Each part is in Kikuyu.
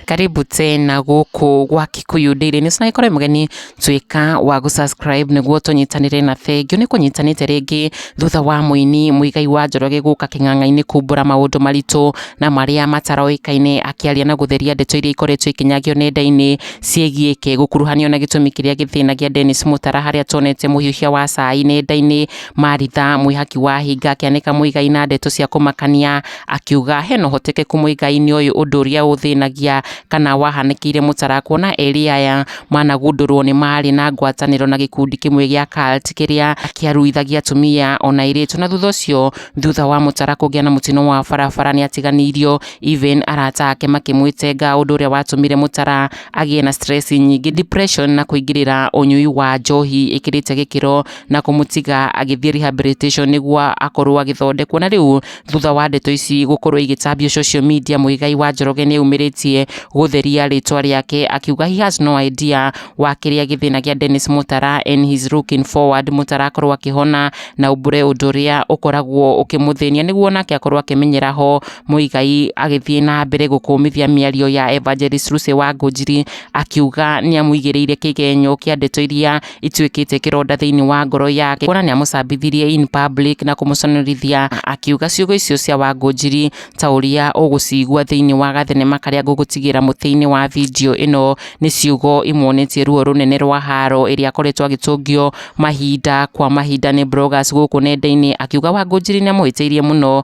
karibu tena guku gwa kikuyu ndiri ni sina ikore mugeni twika wa gu subscribe niguo tunyitanire na thengio ni kunyitanite ringi thutha wa muini muigai wa njoroge guka king'ang'a-ini kumbura maundu maritu na maria mataroikaine akiaria na gutheria ndeto iria ikoretwo ikinyagio nenda-ini ciĩgiĩ kĩ gũkuruhanio na gĩtũmi kĩrĩa gĩthĩnagia Dennis Mũtara harĩa tonete mũhiũhia wa cai nenda-inĩ, Maritha mwĩhaki wa hinga akĩanĩka Mũigai na ndeto cia kũmakania akiuga hena ũhotekeku Mũigai nĩoĩ ũndũ ũrĩa ũthĩnagia kana wahanĩkĩire Mũtara kuona erĩ aya managundũrwo nĩ marĩ na ngwatanĩro na gĩkundi kĩmwe gĩa cult kĩrĩa kĩaruithagia atumia ona airĩtu na thutha ũcio thutha wa Mũtara kũgĩa na mũtino wa barabara nĩatiganĩirio Even arata ake makĩmwĩtenga ũndũ ũrĩa watũmire Mutara agĩe na stress nyingĩ, depression na kũingĩrĩra ũnyui wa njohi ĩkĩrĩte gĩkĩro na kũmũtiga agĩthiĩ rehabilitation nĩguo akorwo agĩthondekwo. Na rĩu thutha wa ndeto ici gũkorwo igĩtambio social media, Muigai wa Njoroge nĩ aumĩrĩtie gũtheria rĩtwa rĩake akiuga he has no idea wa kĩrĩa gĩthĩnagia Dennis Mutara and he's looking forward Mutara akorwo akĩhona na aumbũre ũndũ ũrĩa ũkoragwo ũkĩmũthĩnia nĩguo nake akorwo akĩmenyera ho Muigai agĩthiĩ na mbere gũkũmithia mĩario ya Evangelist Lucy Wangunjiri akiuga nĩ amũigĩrĩire kĩgenyo kĩa ndeto iria ituĩkĩte kĩronda thĩinĩ wa ngoro yake kuona nĩ amũcambithirie in public na kũmũconorithia akiuga ciugo icio cia Wangunjiri ta ũrĩa ũgũcigua thĩinĩ wa gathenema karĩa ngũgũtigĩra mũtĩ-inĩ wa video ĩno nĩ ciugo imwonetie ruo rũnene rwa haro ĩrĩa akoretwo agĩtũngio mahinda kwa mahinda nĩ bloggers gũkũ nenda-inĩ akiuga Wangunjiri nĩ amũhĩtĩirie mũno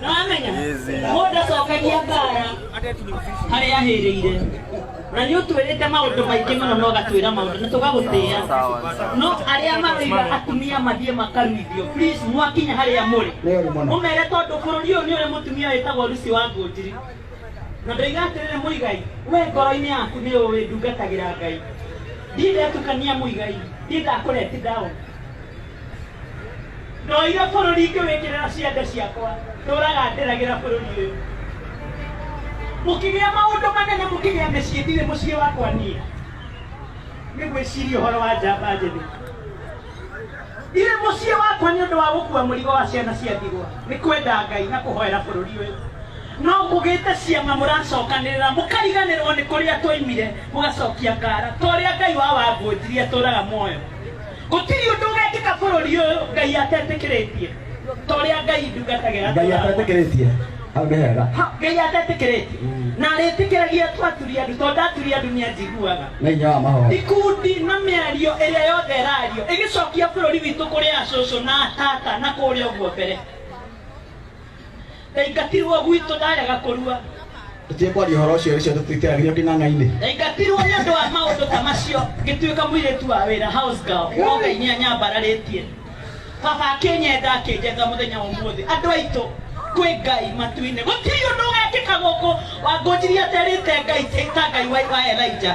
nĩwamenya mũndũ acokagia mbara harĩa ahĩrĩire na nĩ ũtwĩrĩte maũndũ maingĩ mũno na ũgatwĩra maũndũ na tũgagũtĩa no arĩa maroiga atumia mathiĩ makaruithio please mwakinya harĩa mũrĩ mũmere tondũ bũrũri ũyũ nĩ ũrĩ mũtumia wĩtagwo rusi wa ngũnjiri na ndoiga atĩrĩrĩ mũigai we ngoro-inĩ yaku nĩ ũĩ ndungatagĩra ngai ndiĩ ndetukania mũigai ndiĩ ndakũreti ndaona ndoire bũrũri ngĩwĩkĩrĩra ciande ciakwa ndũraga ndĩragĩra bũrũri ũyũ mũkĩgĩa maũndũ manene mũkĩgĩa mĩciĩ ndirĩ mũciĩ wakwa niĩ nĩ gwĩciria ũhoro wa njamba njĩthĩ ndirĩ mũciĩ wakwa nĩ ũndũ wa gũkua mũrigo wa ciana cia ndigwa nĩ kwenda ngai na kũhoera bũrũri ũyũ no kũgĩte ciama mũracokanĩrĩra mũkariganĩrwo nĩ kũrĩa twaimire mũgacokia ngara ta ũrĩa ngai wa wangũnjirie atũraga muoyo Gũtirĩ ũndũ ũgekĩka bũrũri ũyũ Ngai atetĩkĩrĩtie. Ta ũrĩa Ngai ndungatagĩra ngai atũra. atetĩkĩrĩtie hau nĩ hega Ha, Ngai atetĩkĩrĩtie. Mm. Na arĩtĩkĩragia tu aturi andũ tondũ aturi andũ nĩ anjiguaga. nĩ hinya wa mahoya Ikundi na mĩario ĩrĩa yothe ĩrario ĩgĩcokia bũrũri witũ kũrĩ acũcũ na atata na kũrĩa ũguo mbere. ndaingatirwo gwitũ ndarega kũrua tũtige kwaria ũhoro ũcio ũcio tũtitĩragĩrio kĩng'ang'a-inĩ ndaingatirwo nĩ ũndũ wa maũndũ ta macio ngĩtuĩka mũirĩtu wa wĩra house girl no ngai nĩ anyambararĩtie baba akĩnyenda akĩnjetha mũthenya wa ũmũthĩ andũ aitũ kwĩ ngai matu-inĩ gũtirĩ ũndũ ũgekĩka gũkũ wangũnjirie aterĩte ngai ta ngai wa wa elija